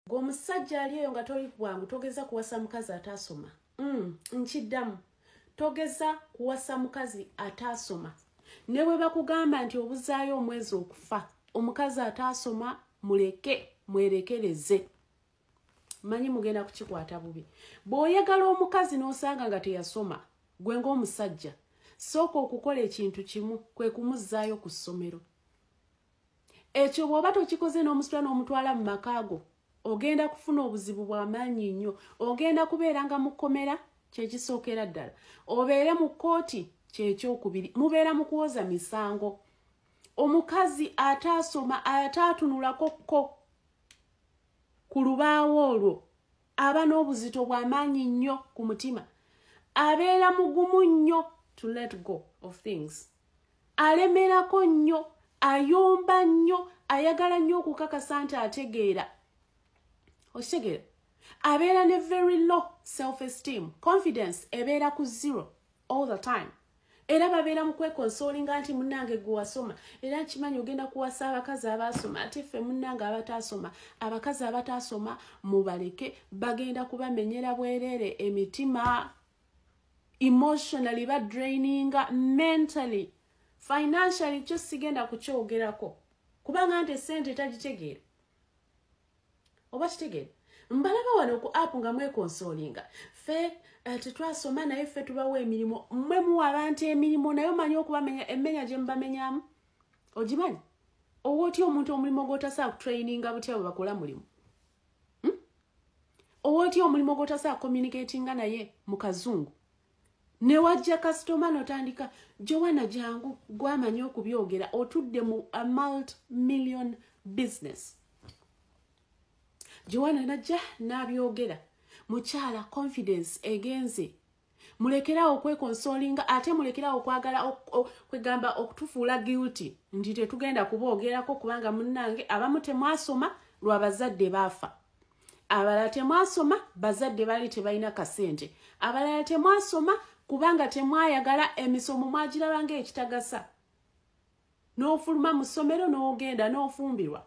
gweomusajja ali eyo nga toli bwangu togeza kuwasa mukazi ataasoma mm, nkiddamu togeza kuwasa mukazi ataasoma ne bwe bakugamba nti obuzaayo omwezi okufa omukazi ataasoma muleke mwerekereze manyi mugenda kukikwata bubi bw'oyagala omukazi n'osanga nga teyasoma gwe ng'omusajja sooka okukola ekintu kimu kwe kumuzzaayo ku ssomero ekyo bw'oba tokikoze n'omusula n'omutwala mu makaago ogenda kufuna obuzibu bw'amaanyi nnyo ogenda kubeera nga mu kkomera kyekisookera ddala obeere mu kkooti kyekyokubiri mubeera mu kuwoza misango omukazi ataasoma ataatunulako kko ku lubaawo olwo aba n'obuzito bw'amaanyi nnyo ku mutima abeera mugumu nnyo to let go of things alemerako nnyo ayomba nnyo ayagala nnyo okukakasa nti ategeera okitegeera abeera ne very low self esteem confidence ebeera ku zero all the time era babeera mu kwekonsolinga nti munange gwe wasoma era nkimanyi ogenda kuwasa abakazi abaasoma ate ffe munange abataasoma abakazi abataasoma mubaleke bagenda kubamenyera bwereere emitima emotionally badraininga mentally financially kyo sigenda kukyogerako kubanga nti esente tagitegeera oba kitegeera mbalaba wano ku app nga mwekonsolinga fe eh, tetwasoma naye ffe tubawo emirimu mwe muwa abantu emirimu naye omanyi okubamenya emmenya gye mubamenyamu ogimanyi owa otya omuntu omulimu gwotasa kutraininga butya bwe bakola mulimu hmm? owa otya omulimu gwotasa kucommunicatinga naye mu kazungu newajja kasitoma notandika jowana jangu gwamanyi okubyogera otudde mu a multi million business jowana najja nabyogera mukyala confidence egenze mulekerawo okwekonsolinga ate mulekerawo okwagala kwegamba okutufuula guilty nti tetugenda kuboogerako kubanga munnange abamu temwasoma lwabazadde baafa abalala temwasoma bazadde bali tebalina kasente abalala temwasoma kubanga temwayagala emisomo mwagirabanga ekitagasa n'ofuluma mu ssomero n'ogenda n'ofumbirwa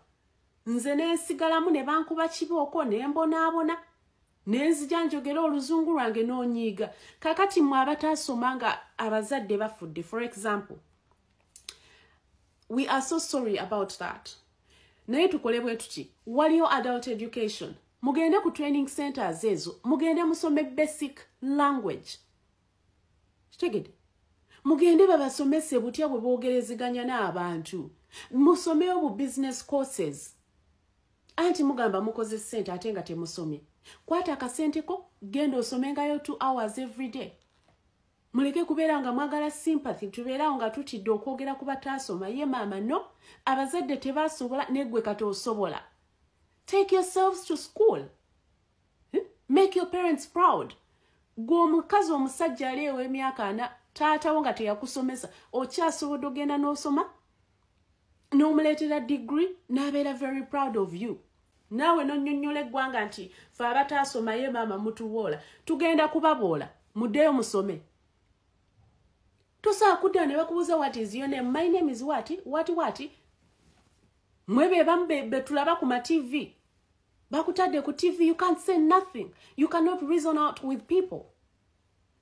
nze nensigalamu ne bankuba kibooko ne mbonaabona ne nzija njogera oluzungu lwange n'onyiiga kakati mwe abataasoma nga abazadde bafudde for example we are so sorry about that naye tukole bwe tuti waliyo adult education mugende ku training centers ezo mugende musome basic language kitegede mugende babasomese butya bwe boogerezeganya n'abantu musomeyo bu business courses anti mugamba mukoze ssente ate nga temusomye kwata akasente ko genda osomengayo two hours every day muleke kubeera nga mwagala sympathy tubeerawo nga tutidde okwogera ku bataasoma ye maama no abazadde tebaasobola negwe kati osobola take yourselves to school hmm? make your parents proud gwe omukazi omusajja ali ew'emyaka ana taatawo nga teyakusomesa okyasobodde ogenda n'osoma n'omuleetera degree n'abeera very proud of you naawe nonyonyola eggwanga nti fe abataasomaye maama mutuwoola tugenda kubaboola muddeyo musome tosaa kudda ne bakubuuza wat is your name my name is wat wat wat mwe bebamu betulaba ku matv bakutadde ku tv you can't say nothing you cannot reason out with people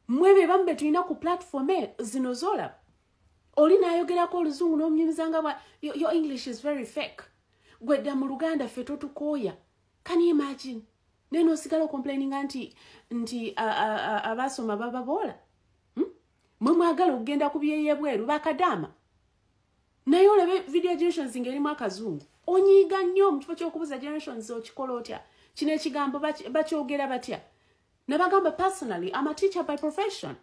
mwe bebamu betulina ku platform e zino zolaba oli nayogerako oluzungu nomunyumizanga bwa your english is very fake gwedda mu luganda ffe totukooya can you imagine naye nosigala ocomplaininga nti nti abaasoma bababoola hmm? mwe mwagala okugenda ku byeyebweru bakadaama naye olabe video generations nga erimu akazungu onyiiga nnyo mu kifo kyokubuza generations okikola otya kino ekigambo bakyogera batya Nabagamba personally, I'm a teacher by profession.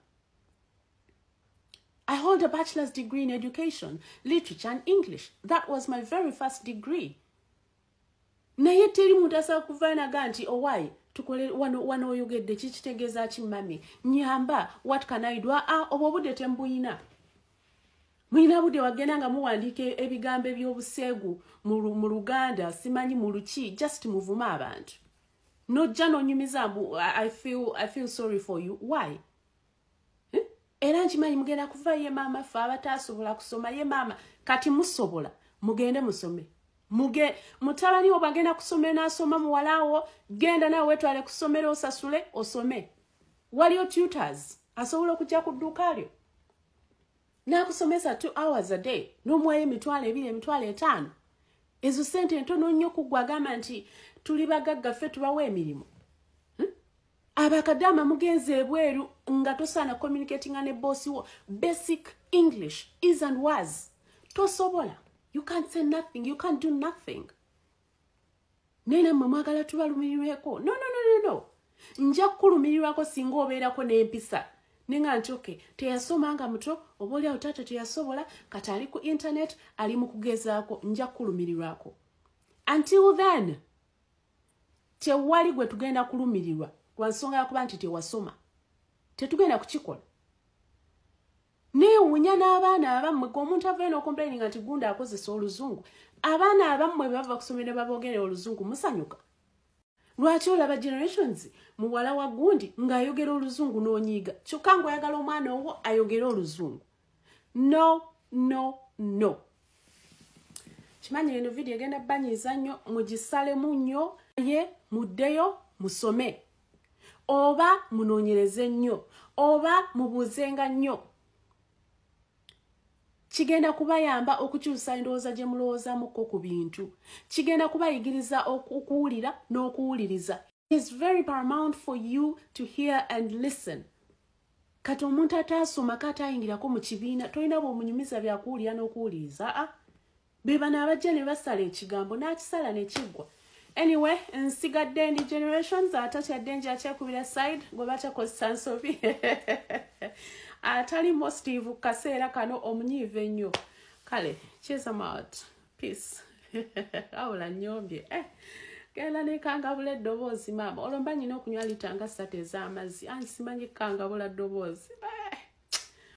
I hold a bachelor's degree in education, literature and English. That was my very first degree. naye teri muntu asobola kuvaanaga nti owaye oh, tukole wano wano oyogedde kikitegeeza ki mami nyamba what can i do aa ah, ah, obwo obudde tembuyina mulina budde wagenda nga muwandiika ebigambo eby'obuseegu mu luganda simanyi mu luki just muvume abantu nojja nonyumiza mbu I feel, I feel sorry for you why eh? era nkimanyi mugenda kuva ye maama fe abatasobola kusoma ye maama kati musobola mugende musome muge mutabani wo bagenda kusoma enasoma muwalawo genda nawe wetwale kusomera osasule osome waliyo tutors asobola okujja ku dduuka lyo n'akusomesa two hours a day n'omuwayo emitwalo ebiri emitwalo etaano ezo sente entono nnyo kuggwa agamba nti tuli bagagga ffe tubawa emirimu hmm? abakadaama mugenza ebweru nga tosaana communicatinga ne boosi wo basic english is and was tosobola you can't say nothing you can't do nothing naye nammwe mwagala tubalumirirweko no no no no no nja kukulumirirwako singa obeerako n'empisa ne nga nti oke teyasoma nga muto oba oli awo taata teyasobola kati ali ku internet ali mu kugezaako nja kukulumirirwako until then tewali gwe tugenda kulumirirwa lwa nsonga yakuba nti tewasoma tetugenda kukikola neewunya n'abaana abammwe ge omuntu avayo n'okomplaininga nti gunda akozesa oluzungu abaana abammwe bebava kusomero baboogere oluzungu musanyuka lwaki olaba generations muwala wa gundi ng'ayogera oluzungu n'onyiiga kyokka ngaoyagala omwana owo ayogere oluzungu no no no kimanyi eno vidiyo egenda banyiiza nnyo mugisalemu nnyo ye muddeyo musome oba munoonyereze nnyo oba mubuuzenga nnyo kigenda kubayamba okukyusa endowooza gye mulowoozamukko ku bintu kigenda kubayigiriza okuwulira n'okuwuliriza is very paramount for you to hear and listen kati omuntu ataasomako ataayingirako mu kibiina tolina bwomunyumiza byakuwulira n'okuwuliriza a ah, bebano abajja ne basala ekigambo n'akisala ne kiggwa anyway nsigadde ndi generations atatyadde nja kyekubira side gwe batakozesa nsobi atali mostive ku kaseera kano omunyiiva ennyo kale chesamout peace awula nyombye eh. genda nekangabula eddoboozi maama olwo mba nyina okunywa litanga satu ez'amazzi ansimanyi kukangabula ddoboozi eh.